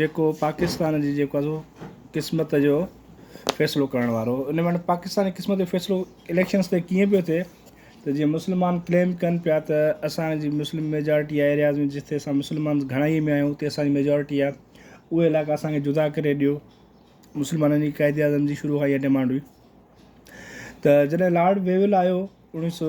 جيڪو پاڪستان جي جيڪو سو قسمت جو فيصلو ڪرڻ وارو ان وٽ پاڪستان جي قسمت جو فيصلو اليڪشنس تي ڪيئن پيو ٿئي ته جيئن مسلمان ڪليم ڪن پيا ته اسانجي مسلم ميجارٽي آهي ايرياز ۾ جتي اسان مسلمان گهڻائي ۾ آهيون اتي اسانجي ميجارٽي آهي اهي علائقا اسانکي جدا ڪري ڏيو مسلمانن جي قائد اعظم جي شروع کان اها ڊيمانڊ هئي ته جڏهن لارڊ ويول آيو اوڻيهه سو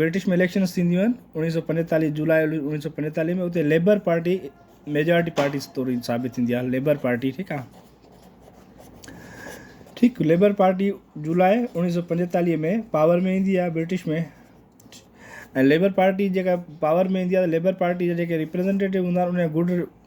برٽش ۾ اليڪشنس ٿينديون آهن اوڻيهه سؤ پنجيتاليهه جولاء اوڻيهه سؤ پنجيتاليهه ۾ اتي ليبر پارٽي ميجارٽي پارٽي طور ثابت ٿيندي آهي ليبر پارٽي ٺيڪ آ ٺيڪ ليبر پارٽي جولاء اوڻيهه سؤ پنجيتاليهه ۾ پاور ۾ ايندي آهي برٽش ۾ ليبر پارٽي جيڪا پاور ۾ ايندي آهي ليبر پارٽي جا جيڪي ريپريزنٽيٽو هوندا آهن ان جا گڊ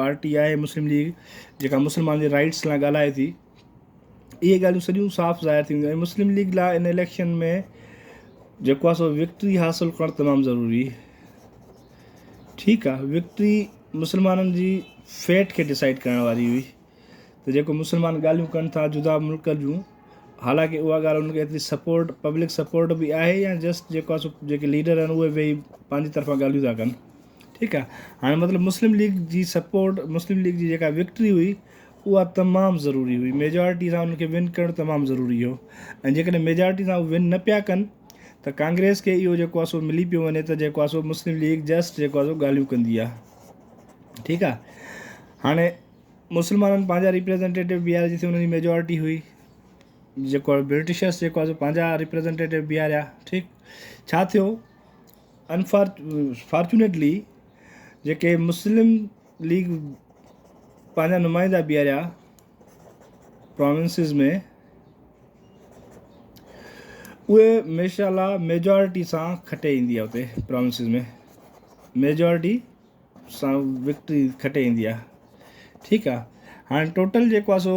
پارٽي آهي مسلم ليگ جيڪا مسلمانن جي رائيٽس لاء ڳالهائي ٿي اهي ڳالهيون سڄيون صاف ظاهر ٿينديون ۽ مسلم ليگ لاء ان اليڪشن ۾ جيڪو آهي سو وڪٽري حاصل ڪرڻ تمام ضروري ٺيڪ آهي وڪٽري مسلمانن جي فيٽ کي ڊسائيڊ ڪرڻ واري هئي ته جيڪو مسلمان ڳالهيون ڪن ٿا جدا ملڪ جون حالانڪه اها ڳالهه ان کي ايتري سپورٽ پبلڪ سپورٽ به آهي يا جسٽ جيڪو آهي سو جيڪي ليڊر آهن اهي ويهي پنهنجي طرفان ڳالهيون ٿا ڪن ٺيڪ آ هاڻي مطلب مسلم ليگ جي سپورٽ مسلم ليگ جي جيڪا وڪٽري هئي اها تمام ضروري هئي ميجارٽي سان انهن کي ون ڪرڻ تمام ضروري هو ۽ جيڪڏهن ميجارٽي سان ون نه پيا ڪن ته ڪانگريس کي اهو جيڪو آسو ملي پيو وڃي ته جيڪو آسو مسلم ليگ جسٽ جيڪو آسو ڳالهيون ڪندي آ ٺيڪ آ هاڻي مسلمانن پنهنجا ريپريزنٽيٽو بيهار جتي انهن جي ميجارٽي هئي جيڪو برٽشرس جيڪو آسو پنهنجا ريپريزنٽيٽو بيهاريا ٺيڪ ڇا ٿيو انفارچونيٽلي جيڪي مسلم ليگ پنهنجا نمائندا بيهاريا پراونسز ۾ اهي ماشاء الله ميجارٽي سان کٽي ايندي آهي اتي پراونسز ۾ ميجارٽي سان وڪٽري کٽي ايندي آهي ٺيڪ آهي هاڻي ٽوٽل جيڪو آهي سو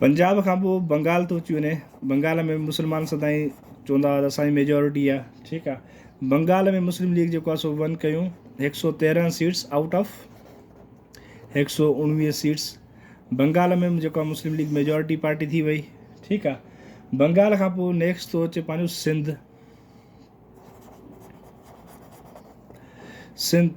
پنجاب کان پوء بنگال ٿو اچي وڃي بنگال ۾ مسلمان سدائين چوندا هئا اسان جي ميجورٽي آ ٺيڪ آ بنگال ۾ مسلم ليگ جيڪو آ سو ون ڪيون هڪ سو تيرنهن سيٽس آئوٽ آف هڪ سو اڻويهه سيٽس بنگال ۾ جيڪو آ مسلم ليگ ميجورٽي پارٽي ٿي وئي ٺيڪ آ بنگال کان پوء نيڪسٽ ٿو اچي پنهنجو سنڌ سنڌ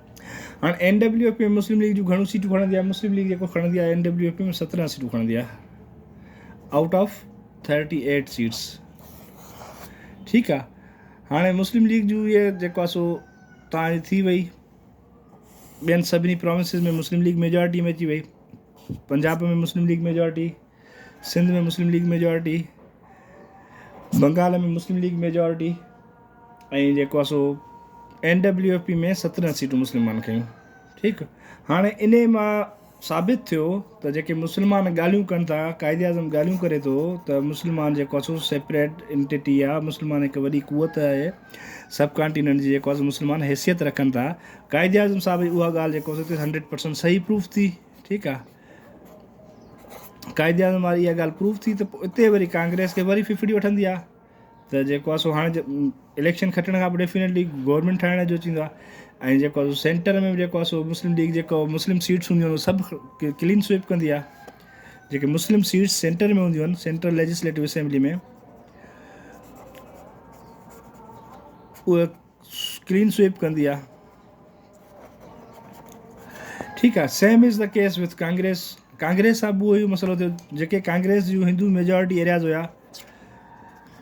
هاڻ N W F P ۾ Muslim League جون گهڻيون سيٽون کڻندي آهي مسلم ليگ جيڪو کڻندي آهي اين ڊبليو ايف پي ۾ سترهن سيٽون کڻندي آهي out of thirty eight seats ٺيڪ آ هاڻي مسلم ليگ جو یہ جيڪو سو تان ٿي وئي بين سبني پروونسز ۾ مسلم ليگ ميجارٽي ۾ اچي وئي Punjab ۾ Muslim League majority Sindh ۾ Muslim League majority Bengal ۾ Muslim League majority ۽ جيڪو آ سو اين ڊبليو ايف پي ۾ سترهن سيٽون مسلمانن کيون ٺيڪ هاڻي اني مان ثابت ٿيو ته جيڪي مسلمان ڳالهيون ڪن ٿا قائد اعظم ڳالهيون ڪري ٿو ته مسلمان جيڪو آ سو سيپريٽ انٽيٽي آ مسلمان هڪ وڏي قوت آهي سب ڪانٽيننٽ جي جيڪو آ سو مسلمان حيثيت رکن ٿا قائد اعظم صاحب اها ڳالهه جيڪو آ سو هنڊريڊ پرسنٽ صحيح پروف ٿي ٺيڪ آ قائد اعظم واري اها ڳالهه پروف ٿي ته اتي وري ڪانگريس کي وري ڦڦڙي وٺندي آ ته جيڪو آسو هاڻي اليڪشن کٽڻ کان پوء ڊيفينيٽلي گورنمنٽ ٺاهڻ جو چيندو آهي ۽ جيڪو آسو سينٽر ۾ جيڪو آسو مسلم ليگ جيڪو مسلم سيٽس هونديون آهن سڀ ڪلين سوئپ ڪندي آ جيڪي مسلم سيٽس سينٽر ۾ هونديون آهن central legislative assembly ۾ clean sweep ڪندي آ ٺيڪ آ same as the case with Congress Congress سان به اهو مسئلو ٿيو جيڪي ڪانگريس جون هندو ميجارٽي ايرياز هيا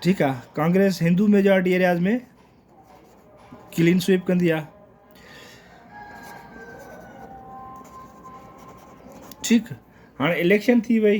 ٺيڪ آ Congress Hindu majority areas ۾ clean sweep ڪندي آ ٺيڪ هاڻي اليڪشن ٿي وئي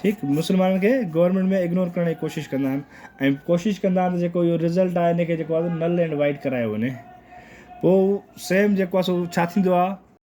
ٺيڪ مسلمانن کي گورنمينٽ ۾ اگنور ڪرڻ جي ڪوشش ڪندا آهن ۽ ڪوشش ڪندا آهن ته جيڪو اهو رزلٽ آهي ان کي جيڪو آهي نل اينڊ وائيڊ ڪرايو وڃي پوء سيم جيڪو آهي سو ڇا ٿيندو آهي